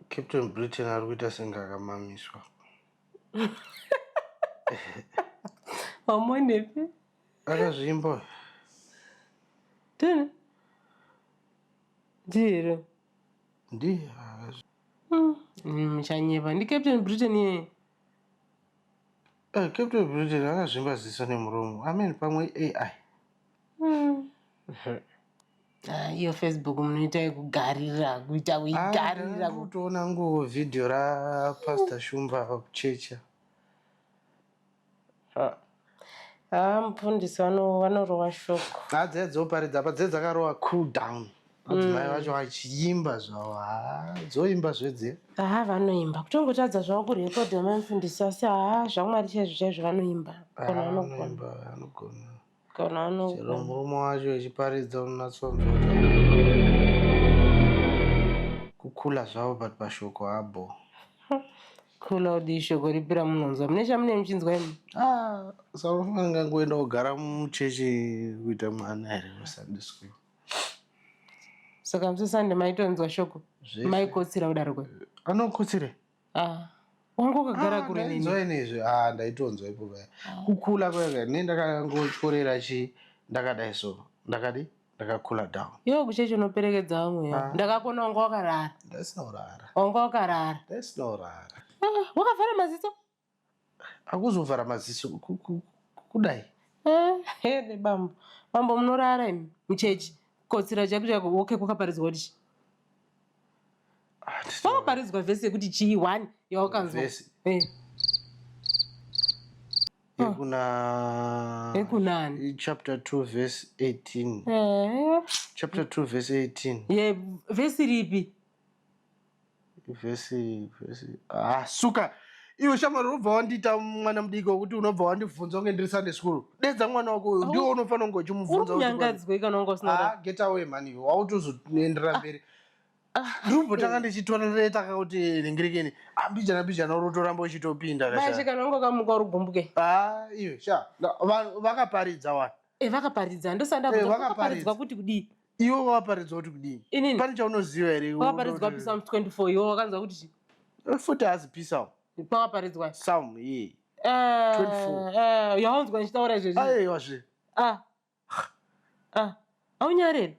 Captain Britain ari kuita senge akamamiswa. Wamonepi? Akazvimba. Tini? Ndiro. Ndiye akazvimba. Hmm. Hmm, muchanyeba. Ndi Captain Britain ye. Eh, Captain Britain akazvimba ziso nemuromo. Amen pamwe AI. Hmm. Ah, iyo facebook munoita yekugarira kuita kuigarira ku- kutoona ngo video ra pastor shumba kuchecha Ah, ah mufundisi vano- vanorowa shoko ah, dziya dzoparidza apa dziya dzakarowa cool down madzimai vacho vachiimba zvavo ha dzoimba zvedziya haa vanoimba kutongotadza zvavo kurekodha mamfundisi asi haa zvamwari chaizvo chaizvo vanoimba Ah, Kana vanogona. vanoimba vanogona kana ano chero murume wacho echiparidza unonatsonzwa kukula zvavo but pashoko habo kula udii shoko ripi ramunonzwa mune chamune muchinzwa imi ah saunofana ngangoenda kugara muchechi kuita mwana here musunday school saka musi sunday maitonzwa shoko Zvese. maikotsira kudaroko anokotsire Ah. Wanga wakagara kure neni. Ndainzwa inezvi. Ah, ndaitonzwa ipo paya. Kukula kwega ne ndakangochorera chi ndakadai so. Ndakadi ndakakula down. Yo kucheche unoperekedza vamwe. Ah. Ndakakona wanga wakarara. Ndasina kurara. Wanga wakarara. Ndasina kurara. Ah, wakavhara maziso? akuzovhara maziso kudai here eh, bambo bambo munorara imi muchechi kotsira chaiko chaiko oke kwakaparidzwa kuti ah, kwakaparidzwa vhesi yekuti chii one yawakanzwa eh. yekuna yekunani chapter 2 verse 18 eh. chapter 2 verse 18 ye vhesi ripi vhesi vhesi ah suka iwe shamwari unobva wandiita mwana mudiki wekuti unobva wandibvunza kunge ndiri sunday school dedza mwana wako uyu ndiwo unofanira kunge uchimubvunza unyangadzwe kana unge usina ah, get away mani iwe wautozoenderera ah. mberi ah. ndimbotanga ndichitorereta kakuti ringirekeni ambijana mbijana uri utoramba uchitopinda kashe kana unge ukamuka uri gumbuke a iwe sha vakaparidza wani Eh, vakaparidza ndosanda eh, vakaparidzwa kuti kudii iwe waparidzwa kuti kudii inini pane chaunoziva here wakaparidzwa pisa 24 iwe wakanzwa kuti chi eh, futi hazi pisa pakaparidzwa psalm ye yaunzwa ndichitaura izvezvi aiwa zve ah. ah. aunyarere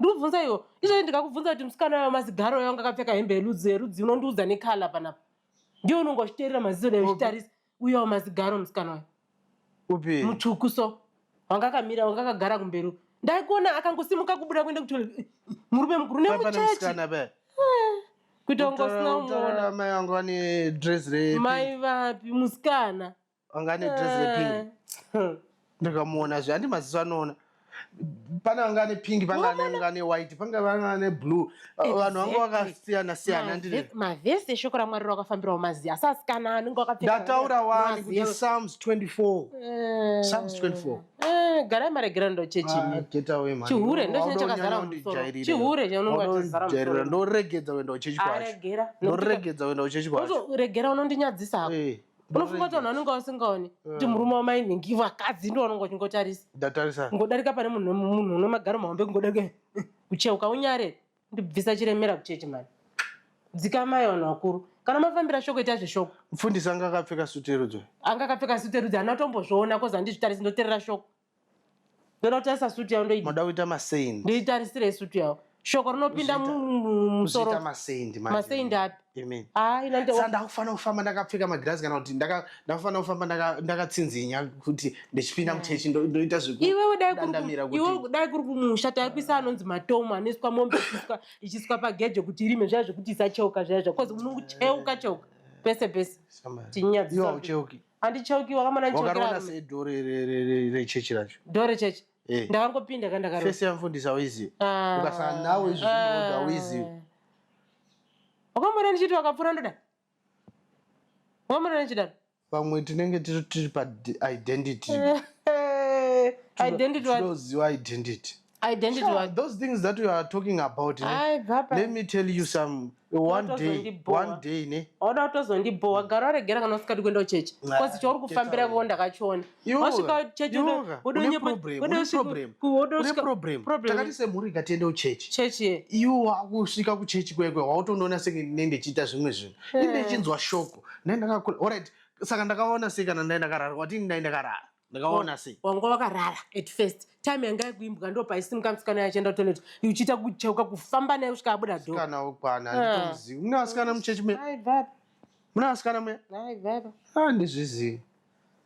ndikubvunza iwo izvozvi ndikakubvunza kuti musikana wayo mazigaro yanga akapfeka hembe yerudzi yerudzi unondiudza nekala panapa ndiwo unonge uchiteerera maziso nayo uchitarisa uyawo mazigaro musikana wayo upi mutsvuku so wanga akamira wanga akagara kumberi uko. ndaikuona akangosimuka kubuda kuenda kutoilet murume mukuru Paipa nemuchechi nemusikana paya kuita kunge usina Utaura- utaura kumuona amai vangu vane dress repi mai vapi musikana vanga ane dress repink eh. ndikamuona zve andi maziso anoona pane vanga ane pink pangaanga ane white panga vanga ane blue vanhu vanga vakasiyana siyana ndimavhesi eshoko ramwari rakafambirawo maziya asi asikana anenge akapfekndataura wani kuti psalms 24 eh. psalms 24 eh, garai maregerano ndochechichihure ah, ndochine chakazara chihure chaunongajairira ndoregedza kuenda kuchechikwaaregedza kuenda kuchechikwaaregera unondinyadzisa hako eh. unofunga kuti vanhu vanenge vasingaoni eh. kuti murume wamainhingi vakadzi ndo vanonga uchingotarisa ndatarisa ngodarika pane munhu munhu une magaro mahombe kungodarika kucheuka unyare ndibvisa chiremera kuchechi mani dzikamai vanhu vakuru kana mafambira shoko ita zveshoko mfundisi anga akapfeka suti yerudzo anga akapfeka suti yerudzo hana tombozviona kozi handizvitarisi ndoterera shoko ndoda kutarisa sutu yavo ndoida moda kuita maseindi ndoitarisirei sutu yavo shoko rinopinda mumusoro maseindi maseindi api sanda kufanira kufamba ndakapfeka magirazi kana kuti ndakufanira kufamba ndakatsinzinya kuti ndichipinda eh. muchechi ndoita zvekuiwewe dai kuri kumusha taipisa anonzi matomu anoiswa mombe ichiswa pagejo kuti irime zvaya zvekuti isacheuka zvaya zvakozi unocheuka cheuka pese pese tinyadzisaucheuki handichauki wakamana ndichaukiwakaona sei dore rechechi racho dore rechechi eh. ndakangopinda ka ndakarofesi yamfundisi auizive ah. ukasana nawo izvi zvinoda auizive ah. wakamona ndichiti wakapfura ndoda wakamona ndichidaro vamwe tinenge tiri pa identity identity tinoziva identity identity sure, wa... those things that you are talking about ne? Ay, let me tell you some one day one day ne oda utozondibhowa gara waregera kana usikadi kuenda kuchechi bcause chauri kufambira vo ndakachiona wasvika chechi takati semhuri ikatiende kuchechi chechi iwo wakusvika kuchechi kwekwe wautondoona senge ne ndichiita zvimwe zvinhu eh. ine ichinzwa shoko ne ndakakula orit saka ndakaona sei kana ndai ndakarara watini ndai ndakarara ndakaona sei wanga wakarara at first time yanga yakuimbwa ndo paisimuka musikana yachienda kutoilet uchiita kucheuka kufamba naye kusvika abuda dosikana wokwana ah. anditomuzivi mune vasikana muchechi me mune vasikana muya andizvizivi ah,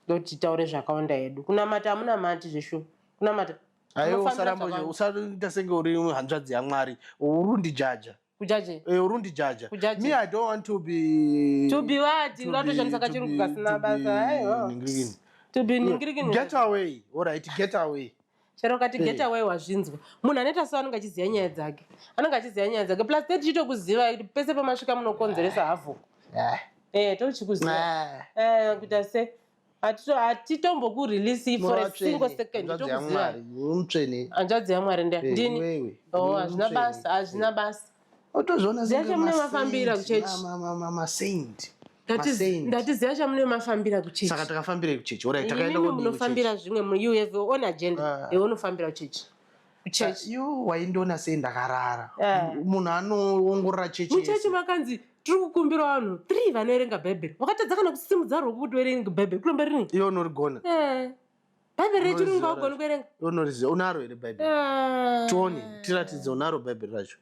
ndoti taure zvakawanda hedu kunamata amuna mati zveshu kunamata aiwe usarambousarita senge uri hanzvadzi yamwari urundi jaja kujaje eh, urundi jaja kujaje me i don't want to be to be what uratoshandisa kachirungu kasina basa aiwa to be ningirigini get away all right get away chero kati eh. get away wazvinzwa munhu anoita so anenge achiziva nyaya dzake anenge achiziva nyaya dzake plus te tichitokuziva kuti pese pamasvika munokonzeresa havoku eh, eh tochikuziva eh, kuita se hatitomboku release for a single second tokuziva mutsvene hanzvadzi yamwari ndia eh, ndini oh hazvina basa hazvina basa otozviona zvacho mune mafambira kuchechi masaint ndatiziva chamune mafambira kuchechi saka takafambira kuchechi orit takaenda munofambira zvimwe you have your own agenda ah. iwe unofambira kuchechi kuchechi you waindiona sei ndakarara yeah. munhu anoongorora chechi muchechi makanzi tiri kukumbira vanhu three vanoerenga bhaibheri wakatadza kana kusimudza rwoko kuti uerenge bhaibheri kuromba rini iyo unorigona yeah. bhaibheri rechirungu vaugoni kuerenga unoriziva unaro here bhaibheri yeah. tione tiratidze unaro bhaibheri racho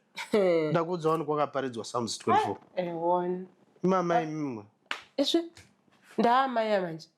ndakuudza wani kwakaparidzwa psalms 24 imamai mimwe esve ndaamaya manje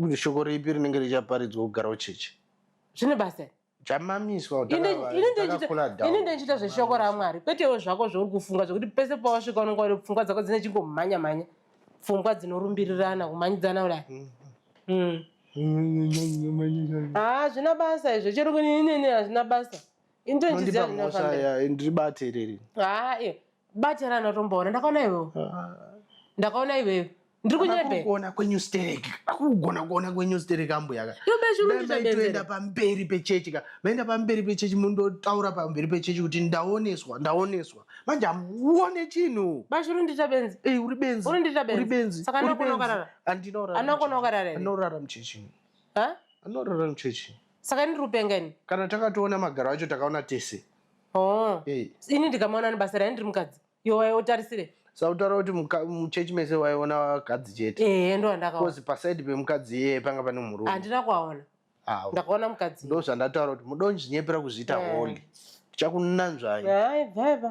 kuti shoko ripi rinenge richaparidzwa kugarawo chechi zvine basa chamamiswa ini ndechita zveshoko ramwari kwetewo zvako zvauri kufunga zvekuti pese pawasvika unenge wari pfungwa dzako dzine chingomhanya mhanya pfungwa dzinorumbirirana kumanyidzana kudai mm. mm. ah, hazvina basa izvo chero kuninini hazvina basa ini tondiziva ndinofanira ndiri bate iriri haa ah, iyo Bata rana tomboona ndakaona iwewe. Ah. Ndakaona iwewe. Ndiri kunyebe. Kuona kwenyu sterek. Akugona kuona kwenyu sterek ambuya ka. Yo beshi uri kunyebe. Toenda pamberi pechechi ka. Maenda pamberi pechechi mundo taura pamberi pechechi kuti ndaoneswa, ndaoneswa. Manje amuone chinhu. Bashi uri ndita benzi. Eh uri benzi. Uri ndita benzi. Uri benzi. Saka anokona ukarara. Andinora. Anokona ukarara. Anorara muchechi. Ha? Anorara muchechi. Saka ndiri kupenga ini. Kana takatoona magaro acho takaona tese. Oh. Hey. Ini ndikamaona nebasa raye ndiri mukadzi. Yo waye otarisire. Sautara kuti muchechi mese waiona vakadzi chete. Eh ndo andakaona. Kozi paside pemukadzi iye panga pane murume. Andina kuaona. Ah. Ndakaona mukadzi. Ndo zvandataura kuti mudonji nyepera kuzviita eh. holy. Chakunanzvai. Hai bye bye.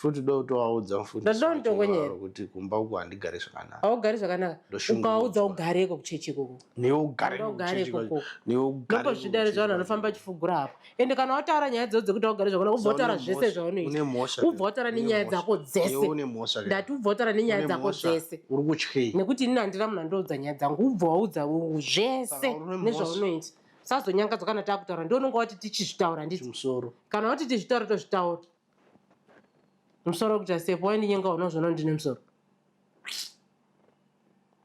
Futi uda kutovaudza mufundisi wacho waro kuti kumba uko handigare zvakanaka. Haugari zvakanaka. Ukaudza ugareko kuchechi ikoko. Newe ugareko kuchechi ikoko. Newe ugareko. Ndipo zvidare zvavanhu vanofamba vachifugura hapo. Ende kana wataura nyaya dzawo dzekuti haugari zvakanaka ubva wataura zvese zvaunoita. Une mhosva. Ubva wataura nenyaya dzako dzese. Newe une mhosva. Ndati ubva wataura nenyaya dzako dzese. Uri kutyei? Nekuti ini handina munhu andoudza nyaya dzangu. Ubva waudza zvese nezvaunoita. Sazonyangadzwa kana takutaura. Ndiwo unonga wati tichizvitaura nditi. Kana wati tizvitaura tozvitaura. Musoro kuita step waindinyenga uno zvono ndine musoro.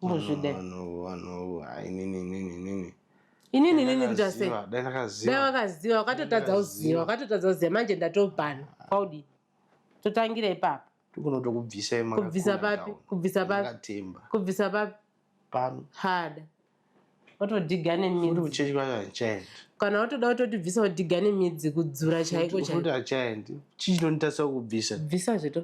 Mbozvide. Vanhu vanhu inini inini inini. Inini inini kuita sei? Dai ndakaziva. Dai wakaziva wakatotadza kuziva wakatotadza kuziva manje ndatobhana. Kwaudi. Totangira ipapo. Tikunotokubvisa imaka. Kubvisa papi? Kubvisa papi? Kubvisa papi? Pano. Hada. otodhiga nemidzi uchidya achaendi kana watoda kutotibvisa wodhiga nemidzi kudzura chaiko chaikuti achaendi chii chinonditarisa kubvisa bvisa zveto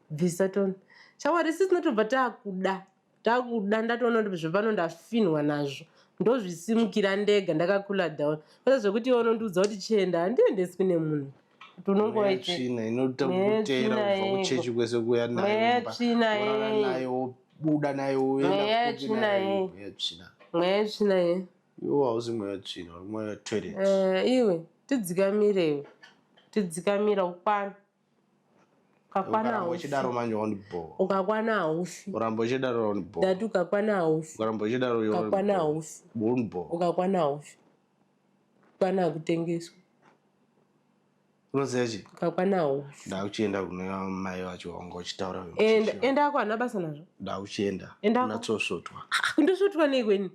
bvisaton shawari sisi tinotobva takuda takuda ndatoona kuti zvepano ndafinhwa nazvo ndozvisimukira ndega ndakakula down kwete zvekuti iwe unondiudza kuti chienda handiendeswi nemunhu tonongoitsvina inoita kutera kubva kuchechi kwese kuya nayo buda nayo uendatsvina mweya yetsvina ye iwo hausi mweya wetsvina uri mweya wetoilet eh, iwe tidzikamire iwe tidzikamira ukwana ukakwana uchidaro manje wandibhowa ukakwana haufi uramba uchidaro wandibhowa ndati ukakwana haufi uramba uchidaro ukakwana haufi wandibhowa ukakwana haufi Kwana hakutengeswi. Unoziva chii? Kakwana haufi. Ndauchienda kune mai vacho wanga uchitaura. Enda enda ako hana basa nazvo. Ndauchienda. Enda unatsosvotwa. Ndosvotwa nei kweni?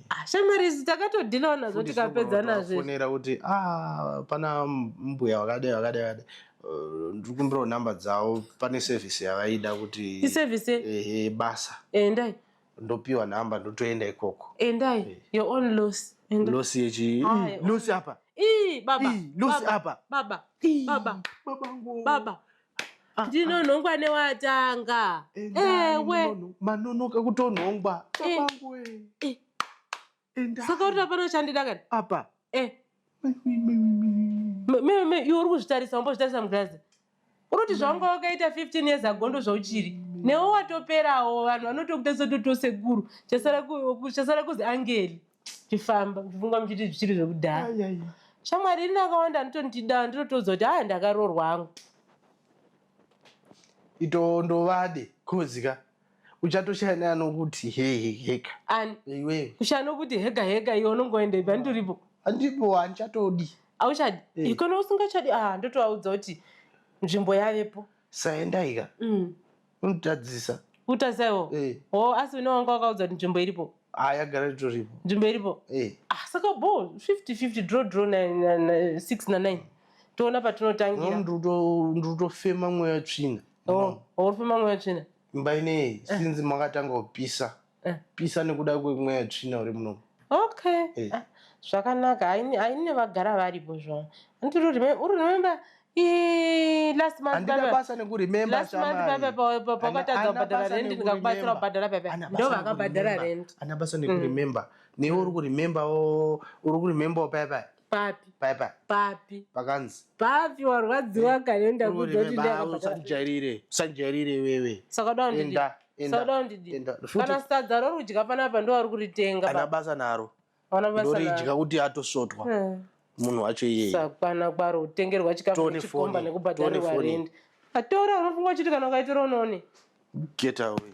Ah, shamwari isu takatodhilawo nazvo tikapedza nazvo. Fonera kuti ah pana mbuya wakadai wakadai wakadai. Eh, ndiri kumbirawo number dzavo pane service yavaida kuti. Iservice? Ehe basa. Endai. ndopiwa number ndotoenda ikoko endai eh. your own loss loss yechi loss apa ii baba loss apa baba baba babangu baba ah, ah. ndinonhongwa newatanga ewe manonoka kutonhongwa babangu eh, eh. Endai. saka uri hapana chandida kana apa eh me- me- me- iwe uri kuzvitarisa umbozvitarisa mugirazi unoti zvawanga wakaita 15 years ago ndo zvauchiri newe watoperawo vanhu vanotokutarisa kuti tosekuru chasara ku- ku- chasara kuzi angeli chifamba ndifunga muchiti zvichiri zvekudhara Ai, ai. shamwari ini akawanda anotondida ndinotoudza kuti haa ndakarorwa hangu itondovade coz ka uchatoshaya neanokuti heheka iwe kushaya nokuti heka heka iwe unongoenda ipa ndiripo andipo handichatodi auchadi eh. ikona usingachadi ah ndotovaudza kuti nzvimbo yavepo saendaika mm. unotadzisa utazaiwo eh. o asi une wanga wakaudza kuti nzvimbo iripo ah, yagara itoripo nzvimbo iripo eh. ah, saka bo 5050 draw draw 6 na 9 toona patinotangira ndiri kutofema mweya tsvina Oh, uri kufema mweya tsvina? Imba inei eh. since makatanga kupisa. Eh. Pisa nekuda kwemweya tsvina uri munomu. Okay. Eh. Ah, zvakanaka. Haine vagara varipo zvavo. Andiri uri remember last month pakatadza kubhadhara rent ndikakubatsira kubhadhara pepe ndo vakabhadhara rent. Ana basa nekuremember. Newe uri kuremember uri kuremember paya paya. papi paya paya papi pakanzi papi warwadziwa ka nenda kuda kuti ndakabata usandijairire usandijairire wewe saka uda kundidi Enda, enda, saka uda kundidi enda. Futi- kana sadza rorudya panapa ndowari kuritenga ana baba basa naro Hauna basa naro. ndoridya kuti atosvotwa Eh. munhu wacho iyeye sakwana kwaro kutengerwa chikafu Tone nechikomba phone. nekubhadharirwa Tone phone. rendi atora unofunga uchiti kana ukaitora unoone get away